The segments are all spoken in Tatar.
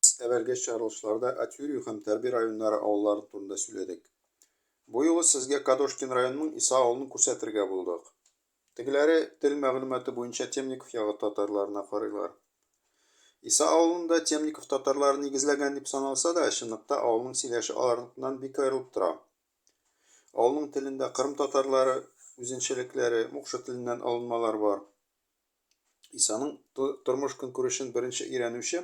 Без әвәлге чыгарылышларда Атьюрю һәм Тәрби районнары авыллары турында сүләдек. Бу юлы сезгә Кадошкин районының Иса авылын күрсәтергә булдык. Тегеләре, тел мәгълүматы буенча Темников ягы татарларына карыйлар. Иса авылын да Темников татарлары нигезләгән дип саналса да, чынлыкта авылның сөйләше аларныкыннан бик аерылып тора. Авылның телендә кырым татарлары үзенчәлекләре, мукшы теленнән алынмалар бар. Исаның тормыш-көнкүрешен беренче өйрәнүче,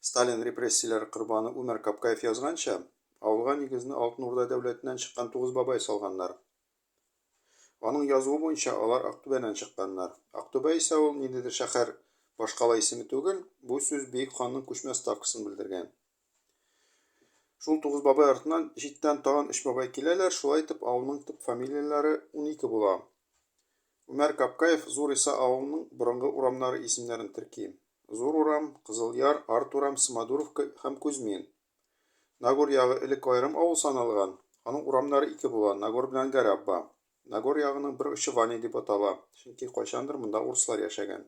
Сталин репрессияләре корбаны Үмәр Капкаев язганча, авылга нигезне Алтын Урда дәүләтеннән чыккан Тугыз бабай салганнар. Аның язуы буенча, алар Актүбәннән чыкканнар. Актүбә исә ул ниндидер шәһәр башкала исеме түгел, бу сүз бөек ханның күчмә ставкасын белдергән. Шул Тугыз бабай артыннан читтән тагын өч бабай киләләр, шулай итеп авылның төп фамилияләре 12 була. Гомәр Капкаев Зур Иса авылының борынгы урамнары исемнәрен терки. Зур урам, Кызыл Яр, Арт урам, Смодуровка һәм Кузьмин. Нагор ягы элек аерым авыл саналган, аның урамнары ике була, Нагор белән Гарәбба. Нагор ягының бер очы Ваня дип атала, чөнки кайчандыр монда урыслар яшәгән.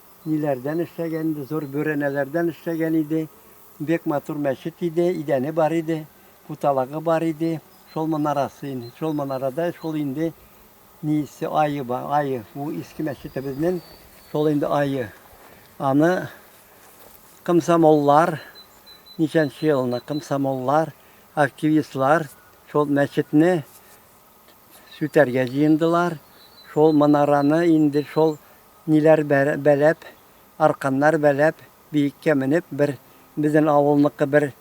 Ниләрдән эшләгән инде, зур бүрәнәләрдән эшләгән иде. Бик матур мәчет иде, идәне бар иде, путалагы бар иде. Шул манарасы инде, шул манарада шул инде нисе айы бар, айы. Бу иске мәчетебезнең шул инде айы. Аны комсомоллар, ничәнче елны комсомоллар, активистлар шул мәчетне сүтәргә җыендылар, шул манараны инде шул ниләр бәләп, арканнар бәләп, биеккә менеп, бер безнен авылныкы бер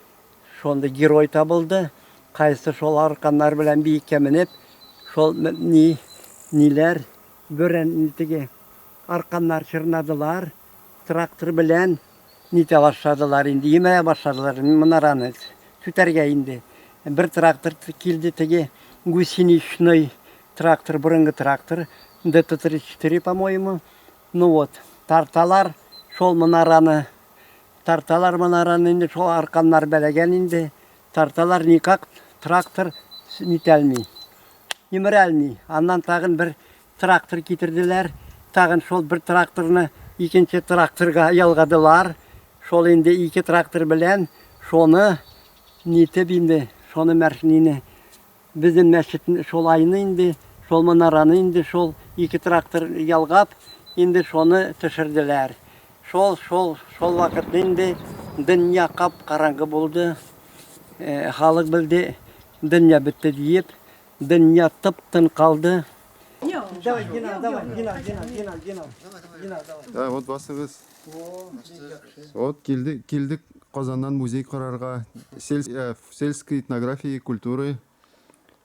шундый герой табылды, кайсы шул арканнар белән биеккә менеп, шул ни ниләр, бөрән теге арканнар чорнадылар, трактор белән. Нитә башладылар инде, йөмә башладылар манараны сүтәргә инде. Бер трактор килде, теге гусеничный трактор, борынгы трактор, ДТ-34, по-моему. Ну вот, тарталар шул манараны, тарталар манараны инде, шул арканнар бәләгән инде. Тарталар никак трактор нитәлми, йөмерәлми. Аннан тагын бер Трактор китерделәр, тагын шул бер тракторны икенче тракторга ялгадылар. Шул инде ике трактор белән шуны нитеп инде, шуны мәршнине безнең мәчет шул айны инде, шул манараны инде шул ике трактор ялгап, инде шуны төшерделәр. Шул, шул, шул вакыт инде дөнья кап караңгы булды. Халык белде, дөнья бетте диеп, Дөнья тып-тын калды. Давай, Гена, давай, Гена, Гена, Гена, Гена. Гена, давай. Ә, вот басыгыз. Вот килдек, килдек Казаннан музей карарга. Сельс, ә, сельской этнографии, культуры.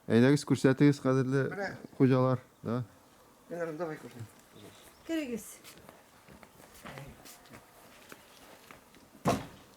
Әйдәгез күрсәтегез, кадерле хуҗалар. Да. Генерал, давай кушай. Керегез.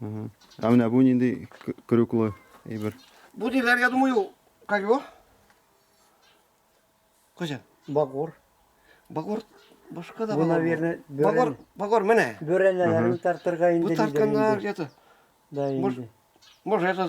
Ә менә бу нинди крюклы әйбер? Бу диләр, я думаю, как его? Кызым. Багор. Багор башка да Бу, наверное, Багор, багор менә. Бөрәнәләрен тартырга инде. Бу тартканнар где-то. Да, инде. Может, это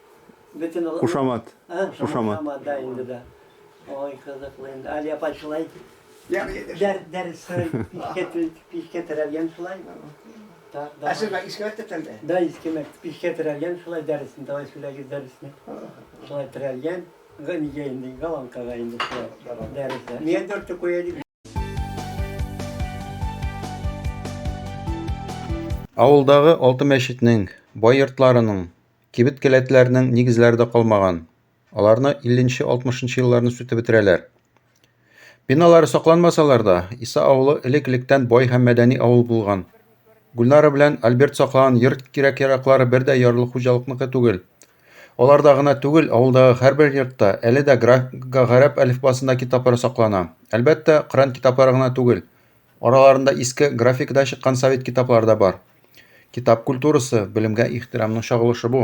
Кушамат. Кушамат. Ой, кызыклы инде. Али апай шулай дәрестән пичкә терәлгән шулай. Ә сез иске мәктәптән дә? Да, иске мәктәп. Пичкә терәлгән шулай дәресен, давай сөйләгез дәресне. Шулай терәлгән. Гамигә инде, галанкага инде шулай дәрестә. Нигә дүртте куя дип? Авылдагы алты мәчетнең, бай йортларының, кибет келәтләренең нигезләре дә калмаган. Аларны 50-60 елларны сүтеп бетерәләр. Биналары сакланмасалар да, Иса авылы элек-электән бай һәм мәдәни авыл булган. Гүлнара белән Альберт саклаган йорт кирәк-яраклары бер дә ярлы хуҗалыкныкы түгел. Аларда гына түгел, авылдагы һәрбер йортта әле дә графикага гарәп әлифбасында китаплар саклана. Әлбәттә, Коръән китаплары гына түгел. Араларында иске графикада чыккан совет китаплары да бар. Китап культурасы, белемгә ихтирамның чагылышы бу.